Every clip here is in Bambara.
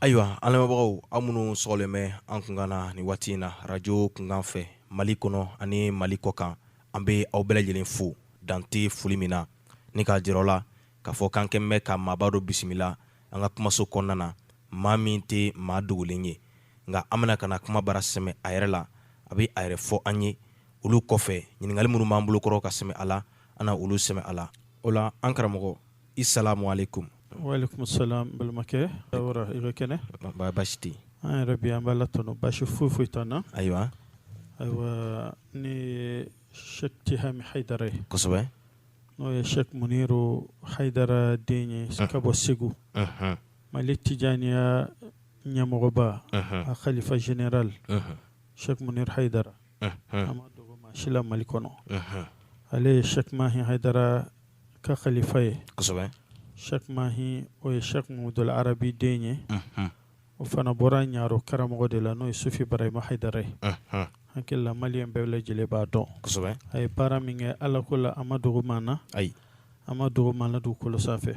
ayiwa an lamɛnbagaw aw minnu sɔgɔlen bɛ an kunkan na ni waati in na radio kunkan fɛ mali kɔnɔ ani mali kɔ kan an bɛ aw bɛɛ lajɛlen fo dan tɛ foli min na ni k'a jira aw la k'a fɔ k'an kɛlen bɛ ka maaba dɔ bisimila an ka kumaso kɔnɔna na maa min tɛ maa dogolen ye nka an bɛna ka na kuma bara sɛmɛ a yɛrɛ la a bɛ a yɛrɛ fɔ an ye olu kɔfɛ ɲininkali minnu b'an bolo kɔrɔ ka sɛmɛ a la an na olu sɛmɛ a la o la an karamɔgɔ i salamu alekum walekum salam balimakɛ tawara i ka kɛnɛ wa basi tɛ an yɛrɛ bi an b'ala tanu basi foyi foyi t'an na ayiwa ayiwa ne ye sɛk tihami hayidara ye kosɛbɛ n'o ye sɛk muniru hayidara den ye ka bɔ segu mali tijaniya ɲɛmɔgɔba a kalifa général sɛk muniru hayidara a ma dogo maa si la mali kɔnɔ ale ye sɛk mahi hayidara ka kalifa ye sɛk mahi o ye sɛk mahmudul arabi den ye O fana bɔra ɲaro karamɔgɔ de la n'o ye sufi barahima hayidara ye hakili la maliyɛn bɛɛ lajɛlen b'a dɔn a ye baara min kɛ ala ko la a ma dogo maa na ayi a ma dogo maa la dugukolo sanfɛ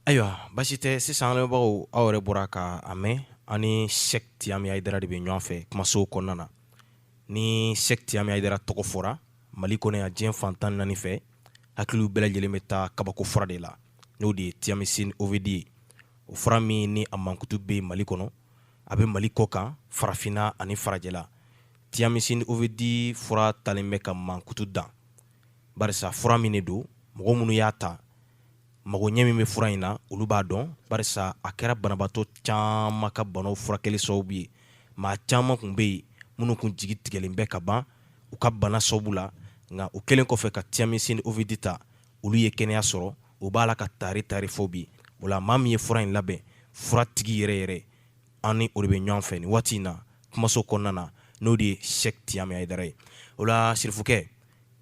ayiwa basi tɛ sisan an lamɛnbagaw aw yɛrɛ bɔra ka a mɛn an ni sɛk tihami hayidara de bɛ ɲɔgɔn fɛ kumaso kɔnɔna na ni sɛk tihami hayidara tɔgɔ fɔra mali kɔnɔ yan diɲɛ fan tan ni naani fɛ hakiliw bɛɛ lajɛlen bɛ taa kabako fura de la n'o de ye tiamisin ovidi ye o fura min ni a mankutu bɛ mali kɔnɔ a bɛ mali kɔ kan farafinna ani farajɛla tiamisin ovidi fura taalen bɛ ka mankutu dan barisa fura min de don mɔgɔ minnu y'a ta mago ɲɛ min bɛ fura in na olu b'a dɔn barisa a kɛra banabaatɔ caman ka banaw furakɛli sababu ye maa caman kun bɛ yen minnu kun jigi tigɛlen bɛ ka ban u ka bana sababu la nka u kɛlen kɔfɛ ka tiamisin ovidi ta olu ye kɛnɛya sɔrɔ u b'a la ka taari taari fɔ bi o la maa min ye fura in labɛn fura tigi yɛrɛ yɛrɛ an ni o de bɛ ɲɔgɔn fɛ nin waati in na kumaso kɔnɔna na n'o de ye sɛk tihami hayidara ye o la sirifukɛ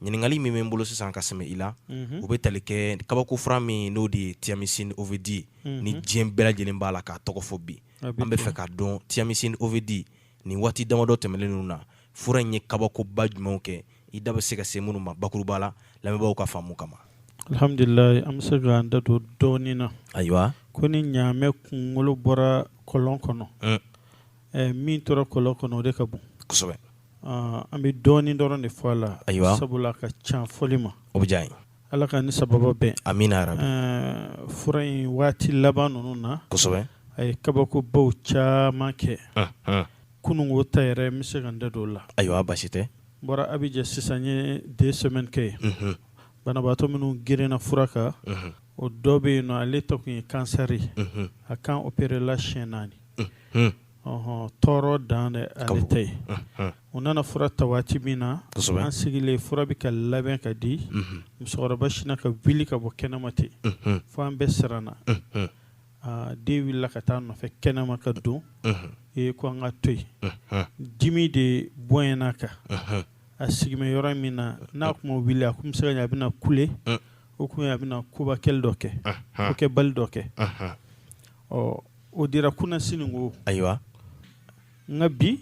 ɲininkali min bɛ n bolo sisan ka sɛmɛ i la mhm. o bɛ tali kɛ kabako fura min n'o de ye tiamisin ovidi mhm. ni diɲɛ bɛɛ lajɛlen b'a la k'a tɔgɔ fɔ bi an bɛ fɛ k'a dɔn tiamisin ovidi nin waati damadɔ tɛmɛnen ninnu na fura in ye kabakoba jumɛnw kɛ i da bɛ se ka se minnu ma bakuruba la lamɛnbaaw ka faamu kama alhamdulilayi an bɛ se k'an da don dɔɔnin na ayiwa ko ni ɲaamɛ kunkolo bɔra kɔlɔn kɔnɔ mm. eh, min tora kɔlɔn kɔnɔ o de ka bon kosɛbɛ An bɛ dɔɔnin dɔrɔn de fɔ a la ayiwa sabula ka ca fɔli ma o bɛ diya n ye ala ka ni sababa bɛn amina fura in waati laban ninnu na kosɛbɛ a ye kabakobaw caman kɛ kununko ta yɛrɛ n bɛ se ka n da don o la ayiwa baasi tɛ n bɔra Abidjan sisan n ye deux semaines kɛ yen banabaatɔ minnu girinna fura kan o dɔ bɛ yen nɔ ale ta tun ye kansɛri a kan opéré la siyɛn naani Ɔ tɔɔrɔ dan de ale ta ye u nana fura ta waati min na an sigilen fura bɛ ka labɛn ka di musokɔrɔba sinna ka wuli ka bɔ kɛnɛma ten fo an bɛɛ siranna den wulila ka taa nɔfɛ kɛnɛma ka don e ko an ka to yen dimi de bonyana a kan a sigilen bɛ yɔrɔ min na n'a tun ma wuli a tun bɛ se ka a bɛna kule o tun a bɛna koba kɛli dɔ kɛ ko kɛbali dɔ kɛ ɔ o dira kunasiniko ayiwa nka bi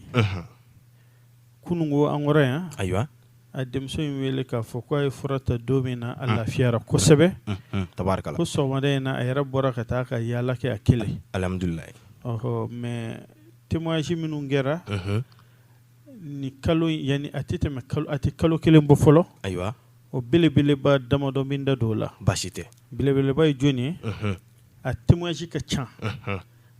kununko an kɔrɔ yan ayiwa a denmuso ye n wele k'a fɔ k' a ye fura ta don min na a lafiyara kosɛbɛ tabarikala ko sɔgɔmada in na a yɛrɛ bɔra ka taa ka yaala kɛ a kelen alhamdulilayi ɔɔ mais témoignage minnu kɛra ni kalo in yani a tɛ tɛmɛ a tɛ kalo kelen bɔ fɔlɔ ayiwa o belebeleba damadɔ n bɛ n da don o la baasi tɛ belebeleba ye jɔnni ye a témoignage ka ca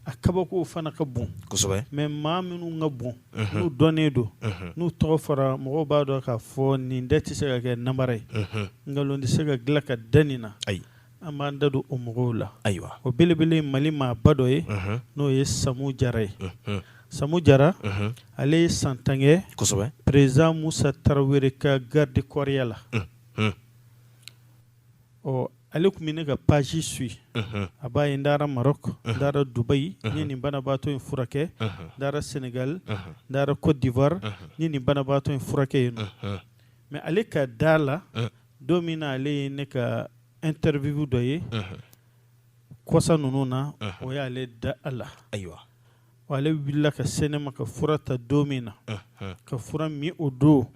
a kabako fana ka bon kosɛbɛ mais maa minnu ka bon n'u dɔnnen don n'u tɔgɔ fɔra mɔgɔw b'a dɔn k'a fɔ nin ta tɛ se ka kɛ namara ye nkalon tɛ se ka dilan ka da nin na ayi an b'an da don o mɔgɔw la ayiwa o belebele Mali maaba dɔ ye n'o ye Samu Jara ye Samu Jara ale ye san tan kɛ kosɛbɛ président Musa Tarawele ka garidi kɔɔriya la ɔ ale tun bɛ ne ka page suit a b'a ye n taara Maroc n taara Dubaï n ye nin banabaatɔ in furakɛ n taara Sénégal n taara Côte d'Ivoire n ye nin banabaatɔ in furakɛ yen nɔ mais ale ka da la don min na ale ye ne ka interview dɔ ye kɔsa ninnu na o y'ale da a la ayiwa wa ale wulila ka se ne ma ka fura ta don min na ka fura min o don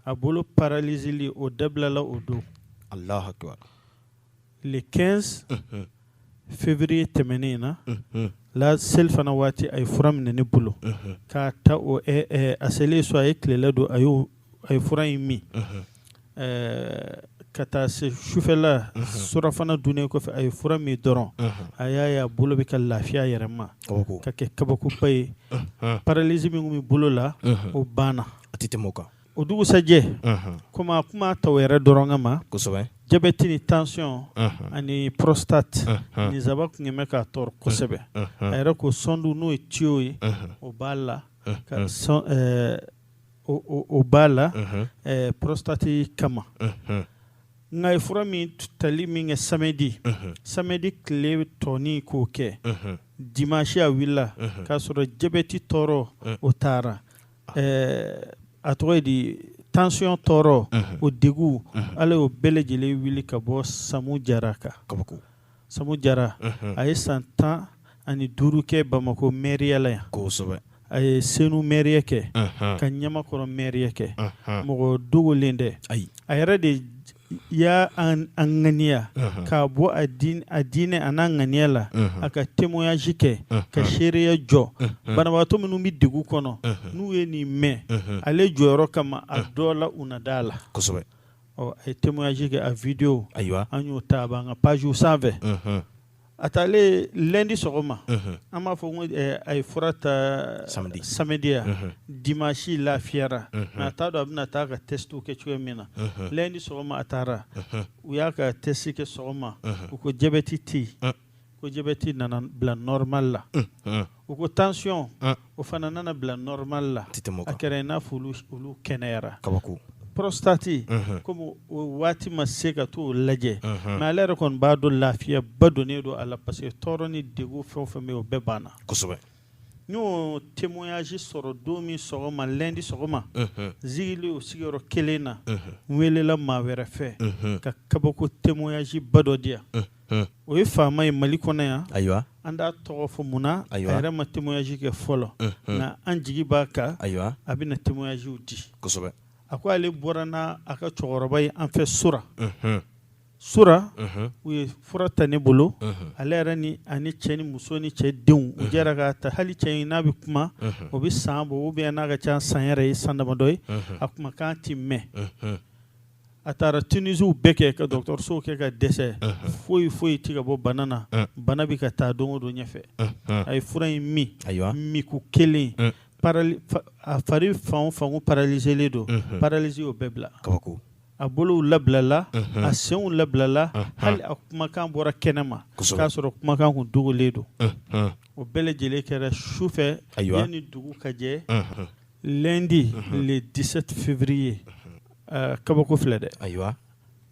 a bolo paralizili o dabilala o don le 15 février tɛmɛnen in na la selifana waati a ye fura minɛ ne bolo k'a ta o a selen so a ye tilela dun a y'o a ye fura in min ka taa se sufɛla surafana dunnen kɔfɛ a ye fura min dɔrɔn a y'a ye a bolo bɛ ka lafiya yɛrɛ ma ka kɛ kabakoba ye paralisi min bɛ bolo la o banna a tɛ tɛmɛ o kan o dugusajɛ kɔmi a tun ma taa o yɛrɛ dɔrɔn kama kosɛbɛ jabɛti ni tension ani prostate nin saba tun bɛ k'a tɔɔrɔ kosɛbɛ a yɛrɛ ko sɔndu n'o ye tuyau ye o b'a la ka o b'a la prostate kama nka a ye fura min tali min kɛ samedi samedi tile tɔɔnin k'o kɛ dimanche a wulila k'a sɔrɔ jabɛti tɔɔrɔ o taara a tɔgɔ ye di tension tɔɔrɔ o degun ala y'o bɛɛ lajɛlen wuli ka bɔ samu jara kan kaba Samu Jara a ye san tan ani duuru kɛ bamakɔ mairie la yan kosɛbɛ a ye Senu mairie kɛ ka Ɲamakɔrɔ mairie kɛ mɔgɔ dogolen tɛ ayi a yɛrɛ de y'a ŋaniya k'a bɔ a diinɛ a n'a ŋaniya la a ka témoignage kɛ ka seereya jɔ banabagatɔ minnu bɛ degun kɔnɔ n'u ye nin mɛn ale jɔyɔrɔ kama a dɔ la u na da a la kosɛbɛ ɔ a ye témoignage kɛ a video ayiwa an y'o ta a b'an ka pagew sanfɛ a taalen lundi sɔgɔma an b'a fɔ ko a ye fura ta samedi samedi ya dimanche lafiyara mais a t'a dɔn a bɛna taa ka testw kɛ cogoya min na lundi sɔgɔma a taara u y'a ka test kɛ sɔgɔma u ko jabɛti tɛ yen ko jabɛti nana bila normal la u ko tension o fana nana bila normal la a kɛra i n'a fɔ olu kɛnɛyara kabako prostate comme o waati ma se ka t'o lajɛ mais ale yɛrɛ kɔni b'a dɔn lafiya ba donnen don a la parce que tɔɔrɔ ni degun fɛn o fɛn bɛ o bɛɛ banna kosɛbɛ n y'o témoignage sɔrɔ don min sɔgɔma lundi sɔgɔma n sigilen o sigiyɔrɔ kelen na n welela maa wɛrɛ fɛ ka kabako témoignage ba dɔ di yan Hmm. o ye faama ye mali kɔnɔ yan ayiwa an t'a tɔgɔ fɔ mun na a yɛrɛ ma témoignage kɛ fɔlɔ hmm, hmm. nka an jigi b'a kan ayiwa a bɛna témoignagew di kosɛbɛ a ko ale bɔra n'a a ka cɛkɔrɔba ye an fɛ sura sura u ye fura ta ne bolo ale yɛrɛ ni ani cɛ ni muso ni cɛ denw u jɛra k'a ta hali cɛ in n'a bɛ kuma o bɛ san bɔ ou bien n'a ka ca san yɛrɛ ye san damadɔ ye a kumakan tɛ mɛn a taara Tunisiw bɛɛ kɛ ka dɔgɔtɔrɔso kɛ ka dɛsɛ foyi foyi tɛ ka bɔ bana na bana bɛ ka taa don o don ɲɛfɛ a ye fura in min ayiwa minko kelen a fari fan fan kun paralizelen don paralysie y'o bɛɛ bila kabako a bolow labilala a senw labilala hali a kumakan bɔra kɛnɛ ma k'a sɔrɔ kumakan kun dogolen don o bɛɛ lajɛlen kɛra su fɛ yanni dugu ka jɛ lundi le dix-sept février kabako filɛ dɛ ayiwa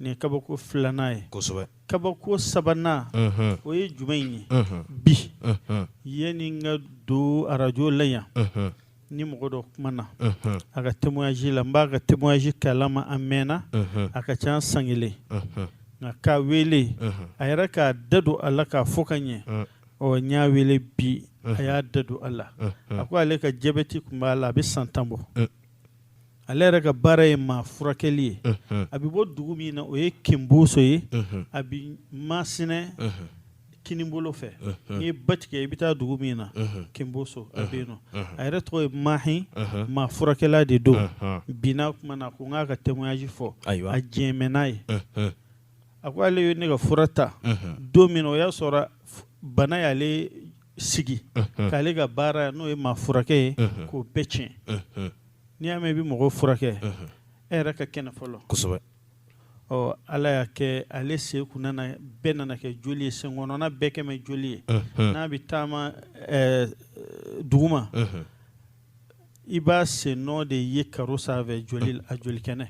nin ye kabako filanan ye kosɛbɛ kabako sabanan o ye jumɛn in ye bi yanni n ka don arajo la yan ni mɔgɔ dɔ kumana a ka témoignage la n b'a ka témoignage kalama a mɛnna a ka ca san kelen nka k'a wele a yɛrɛ k'a da don a la k'a fɔ ka ɲɛ ɔ n y'a wele bi a y'a da don a la a ko ale ka jabɛti tun b'a la a bɛ san tan bɔ ale yɛrɛ ka baara ye maa furakɛli ye a bɛ bɔ dugu min na o ye kinboso ye a bɛ masinɛ kinibolo fɛ n'i ye ba tigɛ i bɛ taa dugu min na kinboso a bɛ yen nɔ a yɛrɛ tɔgɔ ye mahi maa furakɛla de don bi n n'a kumana ko n k'a ka témoignage fɔ a jɛn mɛ n'a ye a ko ale ye ne ka fura ta don min o y'a sɔrɔ bana y'ale sigi k'ale ka baara n'o ye maa furakɛ ye k'o bɛɛ tiɲɛ n'i y'a mɛn i bɛ mɔgɔw furakɛ e yɛrɛ ka kɛnɛ fɔlɔ kosɛbɛ ɔ ala y'a kɛ ale sen kun nana bɛɛ nana kɛ joli ye sen kɔnɔna bɛɛ kɛ mɛ joli ye n'a bɛ taama duguma i b'a sen nɔ de ye karo sanfɛ a joli kɛnɛ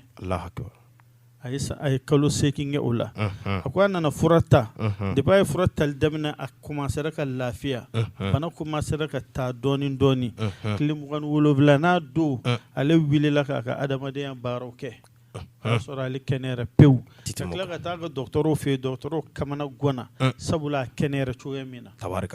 a ye a ye kalo seegin kɛ o la a ko a nana fura ta depuis a ye fura tali daminɛ a commencera ka lafiya bana commencera ka taa dɔɔnin dɔɔnin tile mugan ni wolonwulanan don ale wulila k'a ka adamadenya baaraw kɛ o y'a sɔrɔ ale kɛnɛyara pewu ka tila ka taa a ka dɔgɔtɔrɔw fɛ yen dɔgɔtɔrɔw kamana ganna sabula a kɛnɛyara cogoya min na tari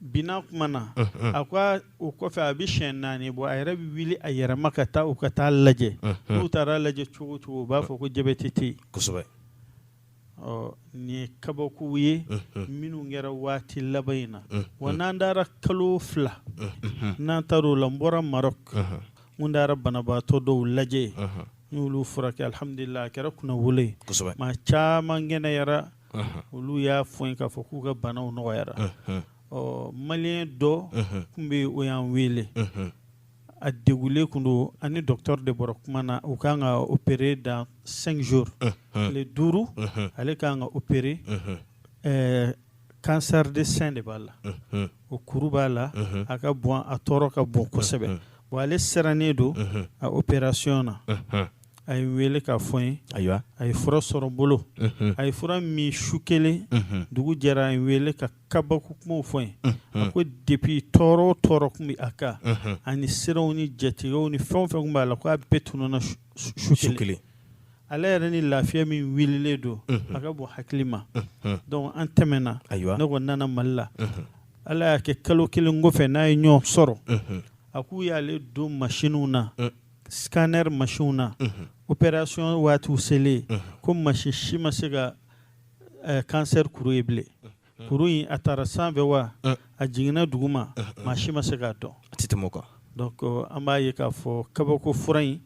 bi n n'a kumana a ko o kɔfɛ a bɛ siɲɛ naani bɔ a yɛrɛ bɛ wuli a yɛrɛma ka taa u ka taa lajɛ n'u taara lajɛ cogo o cogo u b'a fɔ ko jabɛti tɛ yen kosɛbɛ ɔ nin ye kabakow ye minnu kɛra waati laban in na wa n'an taara kalo fila n'an taara o la n bɔra Maroc n kun taara banabaatɔ dɔw lajɛ n y'olu furakɛ alihamudulila a kɛra kunnawolo ye kosɛbɛ maa caman kɛnɛyara olu y'a fɔ n ye k'a fɔ k'u ka banaw nɔgɔyara ɔ maliyɛn dɔ kun bɛ o y'an wele a degulen kun don a ni docteur de bɔra kuma na u k'a kan ka opérer dans cinq jours tile duuru ale kan ka opérer cancer de sein de b'a la o kuru b'a la a ka bon a tɔɔrɔ ka bon kosɛbɛ bon ale sirannen don a opération na a ye n wele k'a fɔ n ye ayiwa a ye fura sɔrɔ n bolo a ye fura min su kelen dugu jɛra a ye n wele ka kabako kumaw fɔ n ye a ko depuis tɔɔrɔ o tɔɔrɔ kun bɛ a kan ani siranw ni jatigɛw ni fɛn o fɛn kun b'a la ko a bɛɛ tununna su kelen ale yɛrɛ ni lafiya min wililen don a ka bon hakili ma donc an tɛmɛna ayiwa ne ko nana mali la ala y'a kɛ kalo kelen kɔfɛ n n'a ye ɲɔgɔn sɔrɔ a k'u y'ale don masinw na scanner machine na operation waatiw selen ko machine si ma se ka eh, cancer kuru ye bilen kuru in a taara sanfɛ wa a jiginna duguma maa si ma se k'a dɔn a tɛ tɛmɛ o kan donc euh, an b'a ye k'a fɔ kabako fura in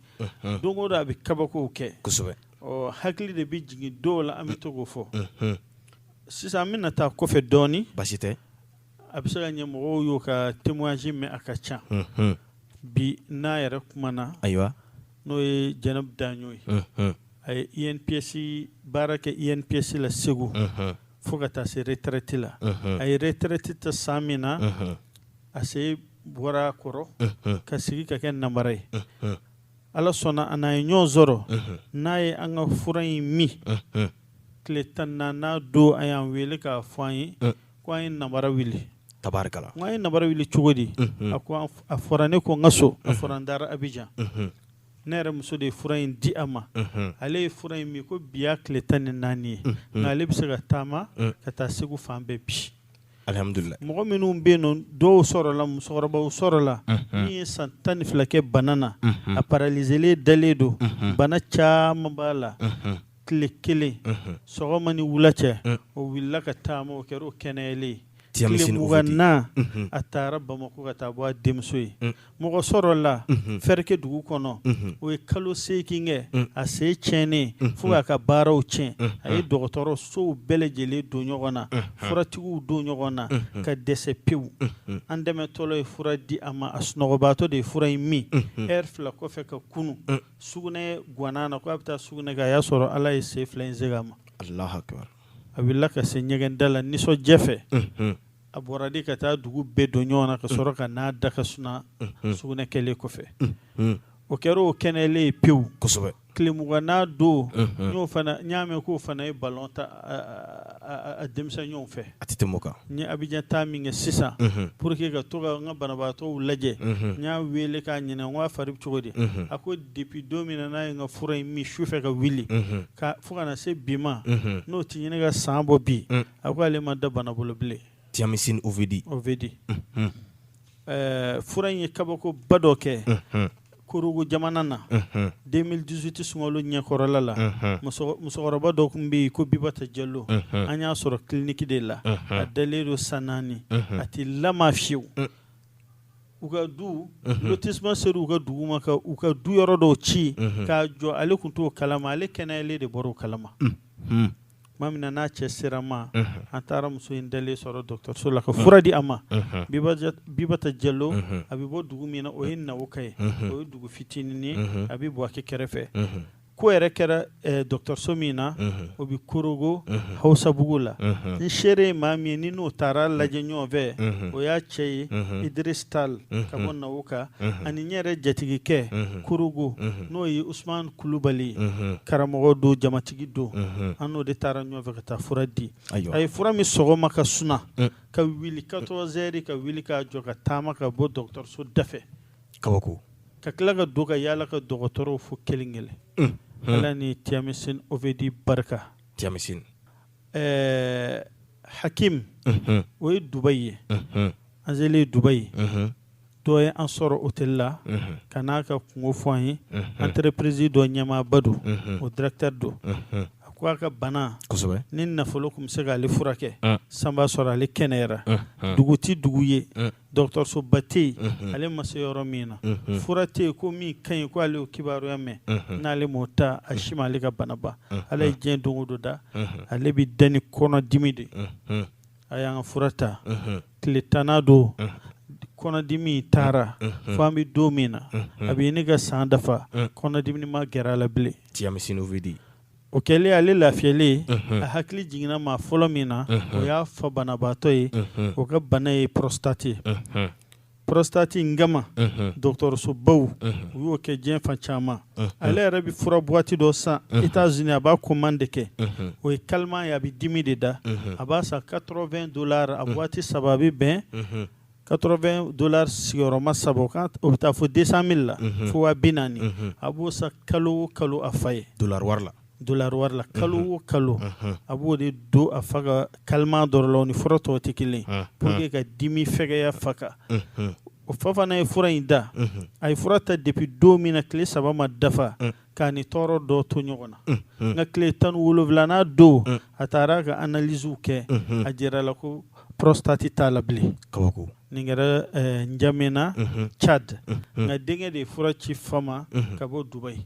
don o don a bɛ kabakow kɛ kosɛbɛ ɔ hakili de bɛ jigin dɔw la an bɛ to k'o fɔ sisan an bɛna taa kɔfɛ dɔɔnin basi tɛ a bɛ se ka ɲɛ mɔgɔw y'o ka témoignage mɛn a ka ca bi n'a yɛrɛ kumana ayiwa n'o ye jɛnɛbu daɲo ye a ye INPS baara kɛ INPS la segu fo ka taa se retreti la a ye retreti ta san min na a sen bɔra a kɔrɔ ka sigi ka kɛ nambara ye ala sɔnna an n'a ye ɲɔgɔn sɔrɔ n'a ye an ka fura in min tile tan ni naani don a y'an wele k'a fɔ an ye Ko an ye nambara wuli tabarikala n ko an ye nambara wuli cogo di a ko a fɔra ne kɔ n ka so a fɔra n taara abijan ne yɛrɛ muso de ye fura in di a ma ale ye fura in min ko bi y'a tile tan ni naani ye nka ale bɛ se ka taama ka taa segu fan bɛɛ bi alhamdulillah mɔgɔ minnu bɛ yen nɔ dɔw sɔrɔla musokɔrɔbaw sɔrɔla min ye san tan ni fila kɛ bana na a paralizelen dalen don bana caman b'a la tile kelen sɔgɔma ni wula cɛ o wulila ka taama o kɛra o kɛnɛyalen ye tile mugan na a taara bamakɔ ka taa bɔ a denmuso ye mɔgɔ sɔrɔla fɛrɛke dugu kɔnɔ o ye kalo seegin kɛ a sen tiɲɛnen fo k'a ka baaraw tiɲɛ a ye dɔgɔtɔrɔsow bɛɛ lajɛlen don ɲɔgɔn na furatigiw don ɲɔgɔn na ka dɛsɛ pewu an dɛmɛ tɔɔrɔ ye fura di a ma a sunɔgɔbaatɔ de ye fura in min heure fila kɔfɛ ka kunun sugunɛ gwanna a na ko a bɛ taa sugunɛ kɛ a y'a sɔrɔ ala ye sen fila in segin a ma allahu akbar a wulila ka se ɲɛgɛnda la nisɔndiya fɛ a bɔra de ka taa dugu bɛɛ don ɲɔgɔn na ka sɔrɔ ka n'a da ka suna sugunɛ kɛlen kɔfɛ o kɛra o kɛnɛyalen ye pewu kosɛbɛ tile mugannan don o fana n y'a mɛn k'o fana ye balɔn tan denmisɛnw fɛ a tɛ tɛmɛ o kan ne ye abijan taa min kɛ sisan pour que ka to ka n ka banabaatɔw lajɛ n y'a weele k'a ɲininka n ko a fari bɛ cogo di a ko depi don min na n'a ye n ka fura in min sufɛ ka wuli fo ka na se bi ma n'o tɛ ɲini ka san bɔ bi a ko ale ma da bana bolo bilen Tiamisi OVD OVD ɛɛ fura in ye kabako ba dɔ kɛ korogo jamana na deux mille dix-huit sunkalo ɲɛkɔrɔla la musokɔrɔba dɔ tun bɛ yen ko bibata jalo an y'a sɔrɔ kiliniki de la a dalen don san naani a tɛ lama fiyewu u ka du lotissement sera u ka dugu ma u ka du yɔrɔ dɔw ci k'a jɔ ale tun t'o kalama ale kɛnɛyalen de bɔra o kalama tuma min na n'a cɛ sera ma an taara muso in dalen sɔrɔ dɔgɔtɔrɔso la ka fura di a ma bibata jalo a bɛ bɔ dugu min na o ye nawoka ye o ye dugu fitinin ye a bɛ buwake kɛrɛfɛ ko yɛrɛ kɛra eh, dɔgɔtɔrɔso min na o bɛ korogo hausabugu la n seere ye maa min ni n'o taara lajɛ ɲɔgɔn fɛ o y'a cɛ ye idris tal ka bɔ nawoka ani n yɛrɛ jatigikɛ korogo n'o ye usman kulubali karamɔgɔ don jamati tigi don an n'o de taara ɲɔgɔn fɛ ka taa fura di a ye fura min sɔgɔma ka suna ka wuli quatorze heures ka wuli k'a jɔ ka taama ka bɔ dɔgɔtɔrɔso dafɛ kabako ka tila ka don ka yaala ka dɔgɔtɔrɔw fo kelen kelen ala ni tiyamisini ovedi barika tiyamisini hakimu o ye dubayi ye An selen Dubaï. Unhun. Dɔ ye an sɔrɔ hôtel la. Unhun. Ka n'a ka kungo fɔ an ye. Unhun. Entreprise dɔ ɲɛmaaba don. Unhun. O directeur don. Unhun. A ko a ka bana. Kosɛbɛ! Ni nafolo kun bɛ se k'ale furakɛ. Un! San b'a sɔrɔ ale kɛnɛyara. Unhun. Dugu tɛ dugu ye. Un! Dɔgɔtɔrɔsoba tɛ yen. Unhun. Ale ma se yɔrɔ min na. Unhun. Fura tɛ yen ko min ka ɲi ko ale y'o kibaruya mɛn. Unhun. N'ale m'o ta, a si m'ale ka bana ban. Unhun. Ala ye diɲɛ don o don da. Unhun. Ale bɛ da ni kɔnɔdimi de ye. Unhun. a y'an ka fura ta tile tannan don kɔnɔdimi taara fo an bɛ don min na a bɛ ɲini ka san dafa kɔnɔdimini ma gɛrɛ a la bilen tiyamisini ovedi o kɛlen ale lafiyalen a hakili jiginna maa fɔlɔ min na o y'a fa banabaatɔ ye o ka bana ye porostati ye porostati in kama dɔgɔtɔrɔsobaw u y'o kɛ diɲɛ fan caman ale yɛrɛ bɛ fura buwati dɔ san États-Unis a b'a commande kɛ o ye calmant ye a bɛ dimi de da a b'a san quatre-vingts dollars a buwati saba a bɛ bɛn quatre-vingts dollars sigiyɔrɔma saba o bɛ taa fo deux cent mille la fo waa binaani a b'o san kalo o kalo a fa ye dollar wari la Dollar wari la kalo o kalo a b'o de don a fa ka calmant dɔrɔn la o ni fura tɔw tɛ kelen pour que ka dimi fɛgɛya a fa kan o fa fana ye fura in ta a ye fura ta depuis don min na tile saba ma dafa k'a ni tɔɔrɔ dɔ to ɲɔgɔn na nka tile tan ni wolowulanan don a taara ka analyse kɛ a jirala ko porostati t'a la bilen kabako nin kɛra njamena cadi nka denkɛ de ye fura ci fa ma ka bɔ dubayi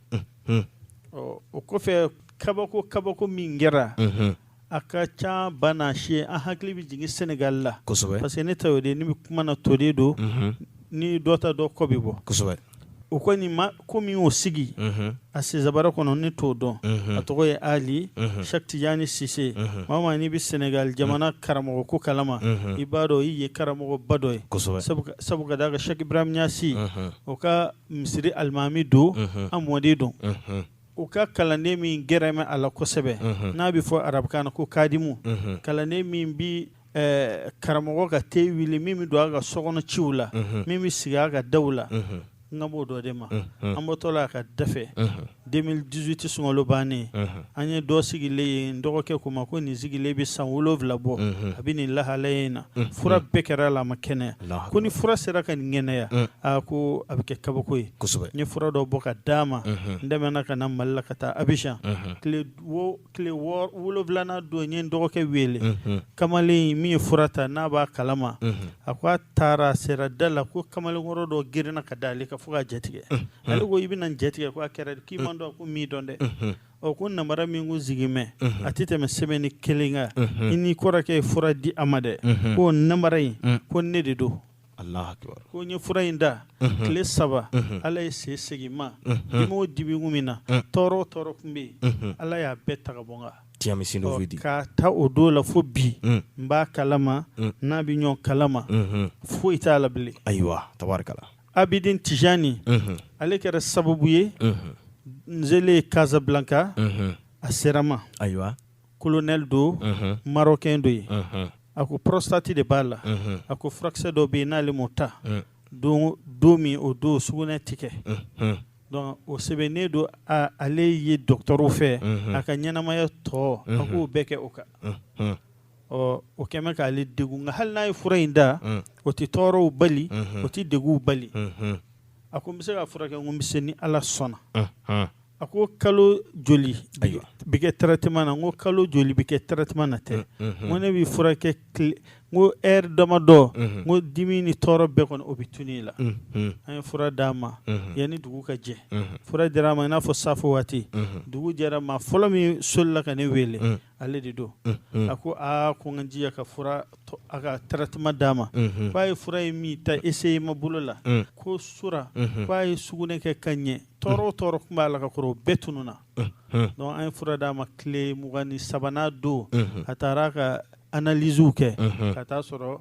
o kɔfɛ kabako kabako min kɛra a ka ca banna si an hakili bɛ jigin sɛnɛgali la parce que ne ta y'o de ni bɛ kuma na to de don ni dɔ ta dɔ kɔ bɛ bɔ o kɔni ma ko min y'o sigi a sinsaban kɔnɔ ne t'o dɔn a tɔgɔ ye ali sɛki tijani sise maa n'i bɛ sɛnɛgali jamana karamɔgɔ ko kalama i b'a dɔn i ye karamɔgɔba dɔ ye sabu ka d'a kan sɛki ibrahim ɲasi o ka misiri alimami don a mɔden don o ka kalanden min gɛrɛlen bɛ a la kosɛbɛ n'a bɛ fɔ arabukan na ko kadimu kalanden min bɛ karamɔgɔ ka te wuli min bɛ don a ka sokɔnɔ ciw la min bɛ sigi a ka daw la n kan b'o dɔ de ma an bɔtɔ la a ka da 2018 sunkalo bannen an ye dɔ sigilen ye n dɔgɔkɛ ko n ma ko nin sigilen bɛ san wolowula bɔ a bɛ nin lahalaya in na fura bɛɛ kɛra a la a ma kɛnɛya ko ni fura sera ka nin kɛnɛya aa ko a bɛ kɛ kabako ye n ye fura dɔ bɔ ka d'a ma n tɛmɛna ka na mali la ka taa abijan tile wolowulana don n ye n dɔgɔkɛ wele kamalen min ye fura ta n'a b'a kalama a ko a taara a sera da la ko kamalenkɔrɔ dɔ girinna ka da ale kan fo k'a jatigɛ ale ko i bɛna n jatigɛ ko a kɛra k'i ma n dɔn ko n m'i dɔn dɛ ɔ ko namara min kun sigilen bɛ a tɛ tɛmɛ semaine kelen kan i n'i kɔrɔkɛ ye fura di a ma dɛ ko namara in ko ne de don ko n ye fura in ta tile saba ala ye se segin n ma dimi o dimi kun bɛ n na tɔɔrɔ o tɔɔrɔ kun bɛ yen ala y'a bɛɛ ta ka bɔ n kan k'a ta o don la fo bi n b'a kalama n'a bɛ ɲɔgɔn kalama foyi t'a la bilen ayiwa tari Abidin Tijani, unhun, ale kɛra sababu ye, unhun, n selen Casablanca, unhun, a sera n ma, ayiwa, colonel don, unhun, marocain don yen, unhun, a ko prostate de b'a la, unhun, a ko furakisɛ dɔ bɛ yen n'ale m'o ta, un, don don min o don sugunɛ tɛ kɛ, unhun, donc o sɛbɛnnen don ale ye docteur fɛ, unhun, a ka ɲɛnamaya tɔ, unhun, a k'o bɛɛ kɛ o kan, unhun. ɔ o kɛlen bɛ k'ale degun nka hali n'a ye fura in ta mm. o tɛ tɔɔrɔw bali mm-hmm. o tɛ degunw bali mm-hmm. a ko n bɛ se k'a furakɛ n ko n bɛ se ni ala sɔnna mm-hmm. a ko kalo joli bɛ kɛ traitement na n ko kalo joli bɛ kɛ traitement na tɛ n ko ne bɛ furakɛ n ko heure damadɔ n ko dimi ni tɔɔrɔ bɛɛ kɔni o bɛ tunun i la an ye fura d'a ma yanni dugu ka jɛ fura dira a ma i n'a fɔ safo waati dugu jɛra maa fɔlɔ min solila ka ne wele ale de don a ko aa ko n ka jija ka fura a ka traitement d'a ma k'a ye fura in min ta essai ma bolo la ko su ra k'a ye sugunɛ kɛ ka ɲɛ tɔɔrɔ o tɔɔrɔ kun b'a la ka kɔrɔ o bɛɛ tununna donc an ye fura d'a ma tile mugan ni sabanan don a taara ka analyse kɛ ka t'a sɔrɔ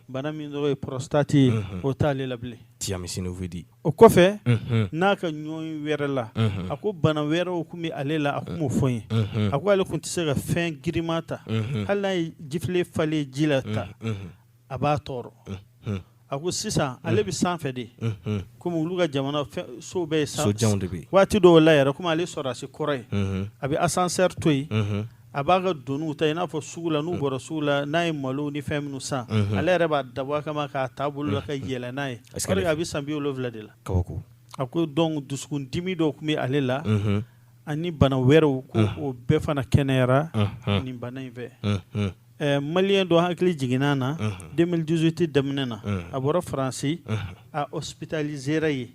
bana min tɔgɔ ye prostate ye o t'ale la bilen o kɔfɛ n'a ka ɲɔgɔn wɛrɛ la a ko bana wɛrɛw kun bɛ ale la a kun m'o fɔ n ye a ko ale kun tɛ se ka fɛn girinma ta hali n'a ye jifilen falen ji la ta a b'a tɔɔrɔ a ko sisan ale bɛ sanfɛ de kɔmi olu ka jamana so bɛɛ ye sanfɛ waati dɔw la yɛrɛ komi ale sɔrɔdasi kɔrɔ ye a bɛ asansɛri to yen a b'a ka doniw ta i n'a fɔ sugu la n'u mm. bɔra sugu la n'a ye malo ni fɛn minnu san mm-hmm. ale yɛrɛ b'a dabɔ a kama k'a ta bolo la ka mm-hmm. yɛlɛn n'a ye a bɛ san bi wolonwula de la a ko donc dusukun dimi dɔ tun bɛ ale la mm-hmm. ani bana wɛrɛw ko mm. o bɛɛ fana kɛnɛyara nin bana in fɛ eh, maliyɛn dɔ hakili jiginna n na 2018 daminɛ na mm. a bɔra faransi a hospitalisera yen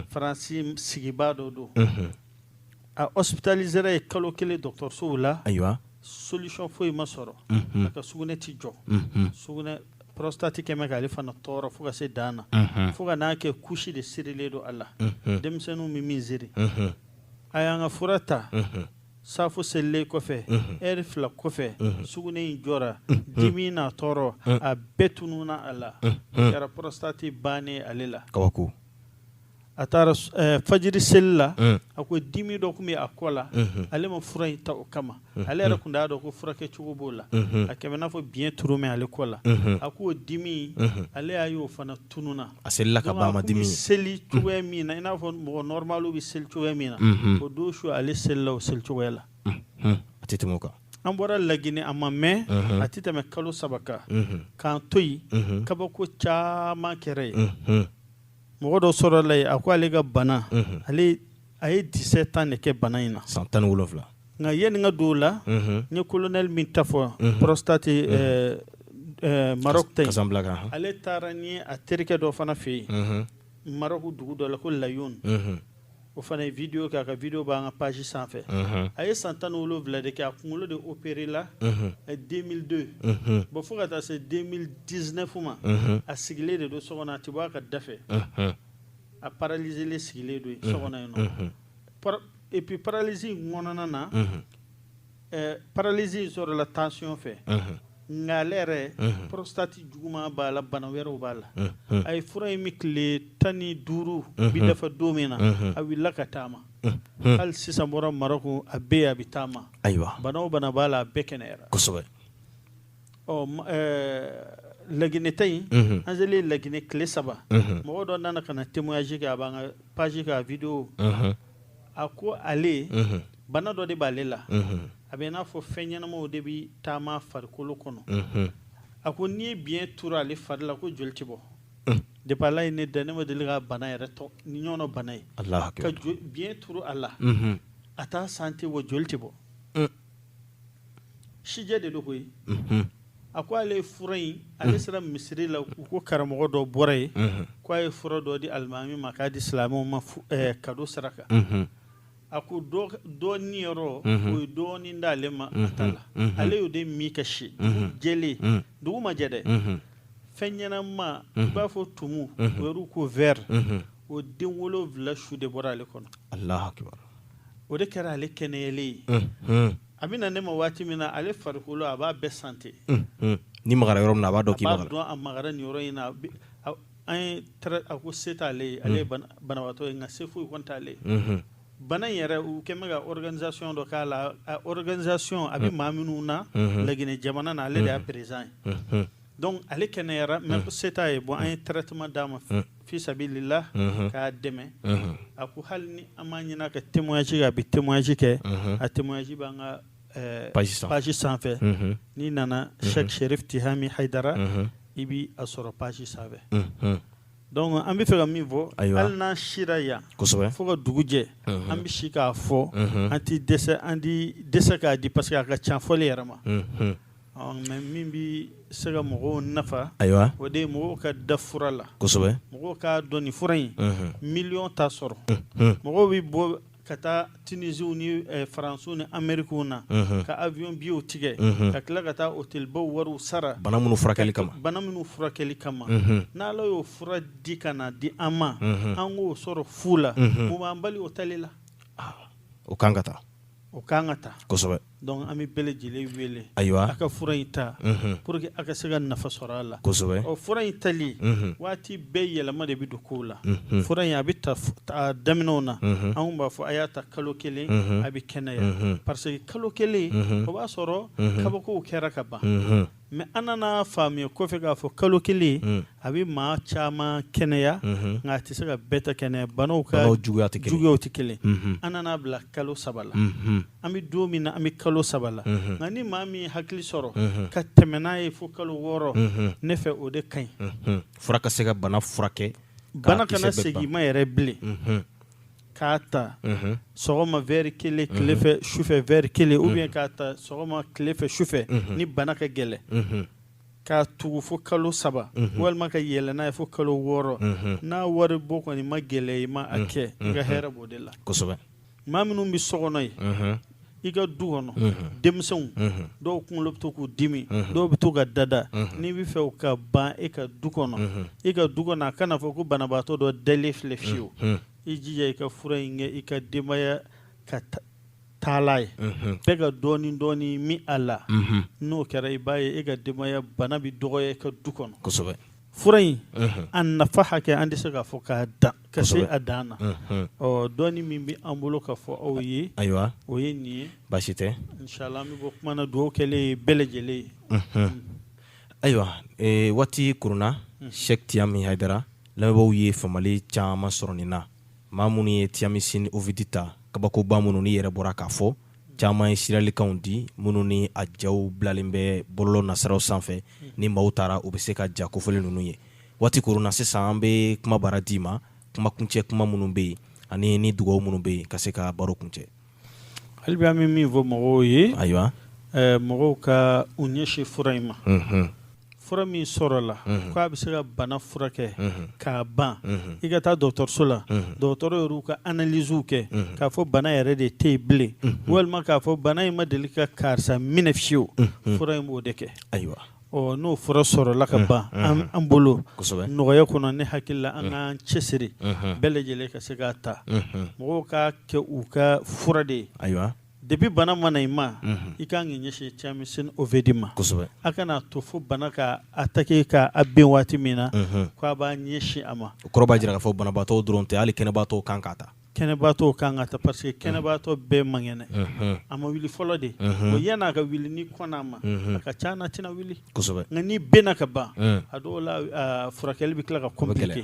faransi sigibaa dɔ don A hospitalisera yen kalo kelen dɔgɔtɔrɔsow la ayiwa solution foyi ma sɔrɔ a ka sugunɛ tɛ jɔ sugunɛ prostate kɛmɛ k'ale fana tɔɔrɔ fo ka se dan na fo ka n'a kɛ couche de sirilen don a la denmisɛnninw bɛ min siri a y'an ka fura ta safo selilen kɔfɛ heure fila kɔfɛ sugunɛ in jɔra dimi n'a tɔɔrɔ a bɛɛ tununa a la kɛra prostate bannen ale la kabako a taara eh, fajiri seli la eh. a ko dimi dɔ tun bɛ a kɔ la mhm. ale ma fura in ta o kama mhm. ale yɛrɛ tun t'a dɔn ko furakɛcogo b'o la mhm. a kɛmɛ n'a fɔ biɲɛ turu mɛ ale kɔ la a k'o dimi ale y'a y'o fana tununa a selila ka ban a ma dimi seli cogoya min na i n'a fɔ mɔgɔ nɔrɔmaliw bɛ seli cogoya min na o don su ale selila o seli cogoya la a tɛ tɛmɛ o kan an bɔra laginɛ a ma mɛn a tɛ tɛmɛ kalo saba kan k'an to yen kabako caman kɛra yen mɔgɔ dɔ sɔrɔla yen a ko ale ka bana ale a ye dix-sept ans de kɛ bana in na san tan ni wolonwula nka yanni n ka don o la n ye colonel min ta fɔ prostate maroc ta ale taara ni a terikɛ dɔ fana fɛ yen maroc dugu dɔ la ko layoun o fana ye video kɛ a ka video b'an ka page sanfɛ a ye san tan ni wolonwula de kɛ a kunkolo de operela 2002 bon fo ka taa se 2019 ma a sigilen de don so kɔnɔ a tɛ bɔ a ka da fɛ a paralizelen sigilen don yen so kɔnɔ yen nɔ epi paralizi in kɔnɔna na Ɛɛ paralizi in sɔrɔla tansiyɔn fɛ nka ale yɛrɛ prostate juguman b'a la bana wɛrɛw b'a la a ye fura in min tile tan ni duuru bi dafa don min na a wulila ka taama hali sisan bɔra maroc a bɛ yen a bɛ taama ayiwa bana o bana b'a la a bɛɛ kɛnɛyara kosɛbɛ laginɛ ta in an selen laginɛ tile saba mɔgɔ dɔ nana ka na témoignage kɛ a b'an ka page kan video a ko ale bana dɔ de b'ale la a bɛ n'a fɔ fɛn ɲɛnamaw de bɛ taama farikolo kɔnɔ a ko n'i ye biɲɛ turu ale fari la ko joli tɛ bɔ depuis ala ye ne dan ne ma deli ka bana yɛrɛ tɔ nin ɲɔgɔnna bana ye ka biɲɛ turu a la a t'a sentir wa joli tɛ bɔ sijɛ de don koyi a ko ale ye fura in ale sera misiri la u ko karamɔgɔ dɔ bɔra yen ko a ye fura dɔ di alimami ma k'a di silamɛw ma kado saraka a ko dɔɔni yɔrɔ o ye dɔɔni d'ale ma a ta la ale y'o de min ka si jɛlen dugu ma jɛ dɛ fɛn ɲɛnama i b'a fɔ tumu o yɛrɛ ko vɛri o den wolonwula su de bɔra ale kɔnɔ Alahu akibaru o de kɛra ale kɛnɛyalen ye a bɛ na ne ma waati min na ale farikolo a b'a bɛɛ santi n'i magara yɔrɔ min na a b'a dɔn k'i magara a b'a dɔn a magara nin yɔrɔ in na an ye a ko se t'ale ye ale ye banabaatɔ ye nka se foyi kɔni t'ale ye bana in yɛrɛ u kɛn bɛ ka organisation dɔ k'a la a organisation a bɛ maa minnu na Laginɛ jamana na ale de y'a président ye donc ale kɛnɛyara mais se t'a ye bon an ye traitement d'a ma fi sabilila k'a dɛmɛ a ko hali ni an m'a ɲini a ka témoignage kɛ a bɛ témoignage kɛ a témoignage b'an ka page sanfɛ n'i nana Cheikh Chérif Tihami Haidara i bɛ a sɔrɔ page sanfɛ donc an bɛ fɛ ka min fɔ hali n'an sira yan fo ka dugu jɛ an bɛ si k'a fɔ an tɛ dɛsɛ an tɛ dɛsɛ k'a di parce que a ka ca fɔli yɛrɛ ma mais min bɛ se ka mɔgɔw nafa o de ye mɔgɔw ka da fura la mɔgɔw k'a dɔn nin fura in miliyɔn t'a sɔrɔ mɔgɔw bɛ bɔ ka taa tunisiw ni eh, faransiw ni amerikiw na mhm. ka avion biyew tigɛ mhm. ka tila ka taa hotelibaw wariw sara bana minnu furakɛli kama mhm. n'ala y'o fura di ka na di an ma an k'o sɔrɔ fu la mun b'an bali o tali la ah, o kan ka ta o kan ka ta kosɛbɛ Donc an bɛ bɛɛ lajɛlen wele a ka fura in ta pour que a ka se ka nafa sɔrɔ a la kosɛbɛ fura in tali waati bɛɛ yɛlɛma de bɛ don ko la fura in a bɛ ta daminɛw na an tun b'a fɔ a y'a ta kalo kelen a bɛ kɛnɛya parce que kalo kelen o b'a sɔrɔ kabakow kɛra ka ban Mais an nana faamuya kɔfɛ k'a fɔ kalo kelen mm. a bɛ maa caman kɛnɛya mm-hmm. nka a tɛ se ka bɛɛ ta kɛnɛya banaw ka juguyaw tɛ kelen mm-hmm. an nana bila kalo saba la mm-hmm. an bɛ don min na an bɛ kalo saba la nka ni maa min hakili sɔrɔ ka tɛmɛ n'a ye fo kalo wɔɔrɔ ne fɛ o de ka ɲi fura ka se ka bana furakɛ bana kana segin i ma yɛrɛ bilen k'a ta sɔgɔma verre kelen tilefɛ sufɛ verre kelen ou bien k'a ta sɔgɔma tilefɛ sufɛ ni bana ka gɛlɛn k'a tugu fo kalo saba walima ka yɛlɛ n'a ye fo kalo wɔɔrɔ n'a wari bɔ kɔni man gɛlɛn i ma a kɛ i ka hɛrɛ b'o de la kosɛbɛ maa minnu bɛ so kɔnɔ yen i ka du kɔnɔ denmisɛnw dɔw kunkolo bɛ to k'u dimi dɔw bɛ to ka dada n'i b'a fɛ o ka ban e ka du kɔnɔ e ka du kɔnɔ a kana fɔ ko banabaatɔ dɔ dalen filɛ fiyewu i jija i ka fura in kɛ i ka denbaya ka taala ye bɛɛ ka dɔɔnin dɔɔnin min a la n'o kɛra i b'a ye e ka denbaya bana bɛ dɔgɔya i ka du kɔnɔ kosɛbɛ fura in a nafa hakɛ an tɛ se k'a fɔ k'a dan ka se a dan na ɔ dɔɔni min bɛ an bolo ka fɔ aw ye ayiwa o ye nin ye baasi tɛ nchala an bɛ bɔ kuma na dugawu kɛlen ye bɛɛ lajɛlen ye ayiwa waati kurunna Sɛki Tiyami Hayidara lamɛnbaaw ye faamuyali caman sɔrɔ nin na maa minnu ye Tiyamisini Ovidi ta kabakoba minnu ni yɛrɛ bɔra k'a fɔ caman ye siralikanw di minnu ni a jaw bilalen bɛ bɔlɔlɔ nasiraw sanfɛ ni maaw taara u bɛ se ka ja kofɔlen ninnu ye waati kurunna sisan an bɛ kuma baara d'i ma kuma kuncɛ kuma minnu bɛ yen ani ni dugaw minnu bɛ yen ka se ka baro kuncɛ hali bi an bɛ min fɔ mɔgɔw ye ayiwa mɔgɔw ka u ɲɛsin fura in ma fura min sɔrɔla ko a bɛ se ka bana furakɛ k'a ban i ka taa dɔgɔtɔrɔso la dɔgɔtɔrɔ yɛrɛ ka analysew kɛ k'a fɔ bana yɛrɛ de tɛ yen bilen walima k'a fɔ bana in ma deli ka karisa minɛ fiyewu fura in b'o de kɛ ayiwa n'o fura sɔrɔla ka ban an bolo nɔgɔya kɔnɔ ne hakili la an k'an cɛsiri bɛɛ lajɛlen ka se k'a ta mɔgɔw k'a kɛ u ka fura de ye ayiwa Depuis bana ma na i ma i ka kan k'i ɲɛsin Tiyamisini Ovidi ma kosɛbɛ a kana to fo bana ka attaquer k'a bin waati min na ko a b'a ɲɛsin a ma o kɔrɔ b'a jira k'a fɔ banabaatɔ dɔrɔn tɛ hali kɛnɛbaatɔ kan k'a ta kɛnɛbaatɔ kan k'a ta parce que kɛnɛbaatɔ bɛɛ man kɛnɛ a ma wuli fɔlɔ de o yann'a ka wuli n'i kɔnna a ma a ka ca na tɛna wuli nka n'i binna ka ban a dɔw la furakɛli bɛ tila ka compliquer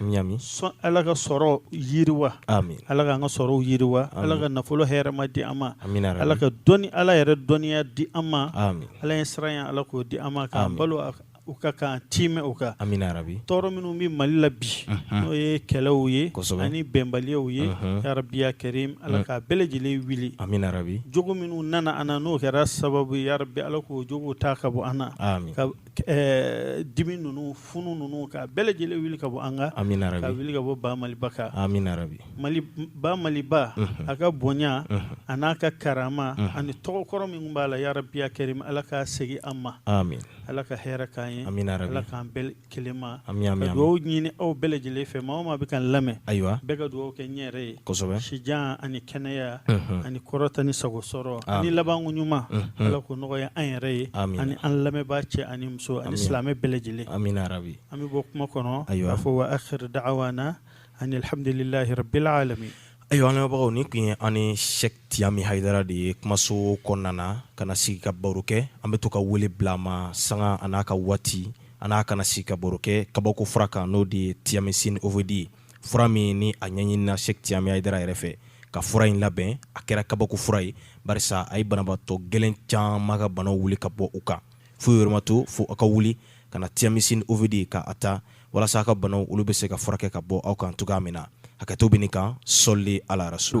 ami ala ka sɔrɔ yiriwa ami ala k'an ka sɔrɔw yiriwa ala ka nafolo hɛrɛma di an ma ami ala ka dɔnni ala yɛrɛ dɔnniya di an ma ami ala ɲɛsiranya ala k'o di an ma k'an balo a- o kan k'an tiimɛ o kan amina yarabi tɔɔrɔ minnu bɛ mali la bi n'o ye kɛlɛw ye Kosɛbɛ. ani bɛnbaliyaw ye Mhm. yarabi ya karim ala k'a bɛɛ lajɛlen wuli amina yarabi jogo minnu nana an na n'o kɛra sababu ye yarabi ala k'o jogo ta ka bɔ an na ami ka dimi ninnu funu ninnu k'a bɛɛ lajɛlen wuli ka bɔ an kan k'a wuli ka bɔ ba maliba kan ba maliba a ka bonya a n'a ka karama ani tɔgɔ kɔrɔ min b'a la yarabi ya karim ala k'a segin an ma ala ka hɛrɛ k'an ye ala k'an bɛɛ kelenma dugawu ɲini aw bɛɛ lajɛlen fɛ maa o maa bɛ k'an lamɛn ayiwa bɛɛ ka dugawu kɛ n yɛrɛ ye sijan ani kɛnɛya ani kɔrɔta ni sago sɔrɔ ani labanko ɲuman ala k'o nɔgɔya an yɛrɛ ye ani an lamɛnbaa cɛ ani muso ani silamɛ bɛɛ lajɛlen an bɛ bɔ kuma kɔnɔ k'a fɔ wa akhir daawana anil hamidulilayi rabil alamin ayiwa an lamɛnbagaw nin tun ye an ni Sɛki Tiyami Ayidara de ye kumaso kɔnɔna na ka na sigi ka baro kɛ an bɛ to ka wele bila a ma sanga a n'a ka waati an n'a ka na sigi ka baro kɛ kabako fura kan n'o de ye Tiyamisini Ovidi ye fura min ni a ɲɛɲinina Sɛki Tiyami Ayidara yɛrɛ fɛ ka fura in labɛn a kɛra kabako fura ye barisa a ye banabaatɔ gɛlɛn caman ka banaw wuli ka bɔ u kan foyi wɛrɛ ma to fo aw ka wuli ka na Tiyamisini Ovidi ka a ta walasa aw ka banaw olu bɛ se ka furakɛ ka bɔ aw kan cogoya min na hakɛto bɛ nin kan sɔli ala rasulu